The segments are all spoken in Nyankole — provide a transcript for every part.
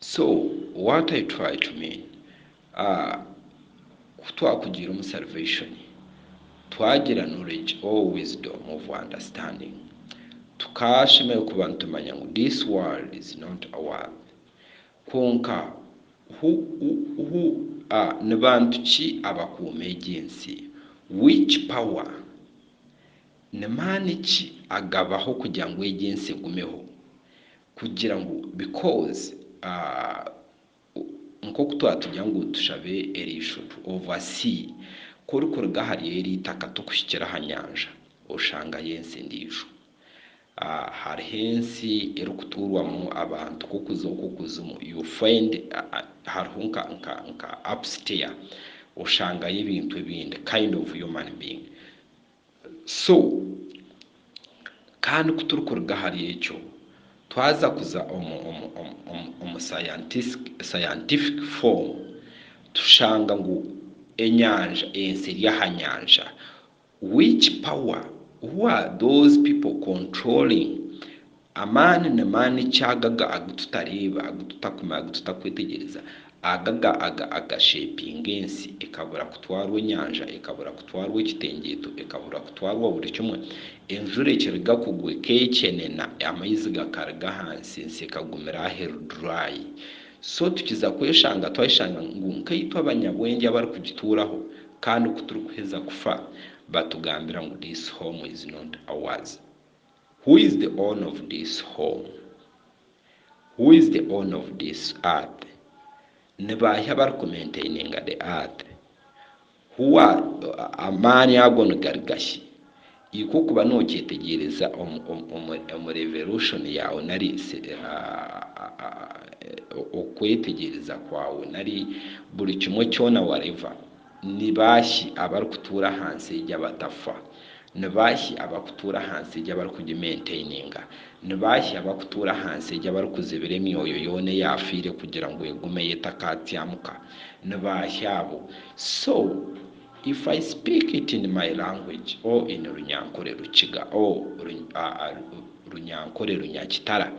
So what I try to mean ahh ku twakugiire omu salvation twagira knowledge or wisdom of understanding tukashemererwa kuba nitumanya ngu this world is not a worth kwonka who who ahh ni bantu ki abakuuma egi ensi which power ni maani ki agabaho kugira ngu egi ensi egumeho Kugira ngu because nk'oku twatugira ngu tushabe eriishotu ova sea ku orikuruga ahari eri itaka tokuhikira aha nyanja oshangayo ensi endiijo. Hariho ensi erikutuurwamu abantu k'okuza okwo kuzimu you will find hariho nka nka nka upstair oshangayo ebintu ebindi kind of human being. So, kandi ku turikuruga ahari ekyo, twaza kuza omu scientific form, tushanga ngu enyanja, ensi eri aha nyanja. Which power, who are those people controlling Amaani ni maani ki agaga agu tutareeba, agu tutakumanya, agu tutakwetegereza, agaga aga agashepinga ensi ekabura kutwarwa enyanja, ekabura kutwarwa ekitengyeto, ekabura kutwarwa buri kimwe, enjura ekiruga kugwa ekekyenena, amaizi gakaruga ahansi, ensi ekagumira aho eri dry. So tukiza kweshanga twayeshanga ngu nkaitwe abanyabwengye abarikugituuraho kandi ku turikuheza kufa batugambira ngu this home is not ours. Who is the owner of this home? Who is the owner of this earth? Ni baahi abarikumentininga the earth? Who are, amaani ago nigari gashi? Ikwo okuba nokyetegyereza omu revelution yaawe nari okwetegyereza kwaawe nari buri kimwe kyoona whatever, Ni baahi abarikutuura aha nsi egi abatafa? Ni baahi abarikutuura aha nsi egi abarikugimentaininga? Ni baahi abarikutuura aha nsi egi abarikuzibira emyoyo yoona eyaafiire kugira ngu egumeyo etakaatsyamuka? Ni baahi abo? So, if I speak it in my language or in Runyankore Rukiga or Runyankore Runyakitara,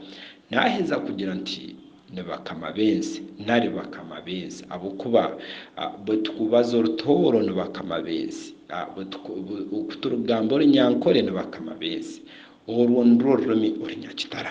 naaheza kugira nti Ni bakama b'ensi, nari bakama b'ensi, ahabw'okuba bwe turikubaza orutooro ni bakama b'ensi, ku turikugamba orunyankore ni bakama b'ensi, orwo nirwo rurimi orunyakitara.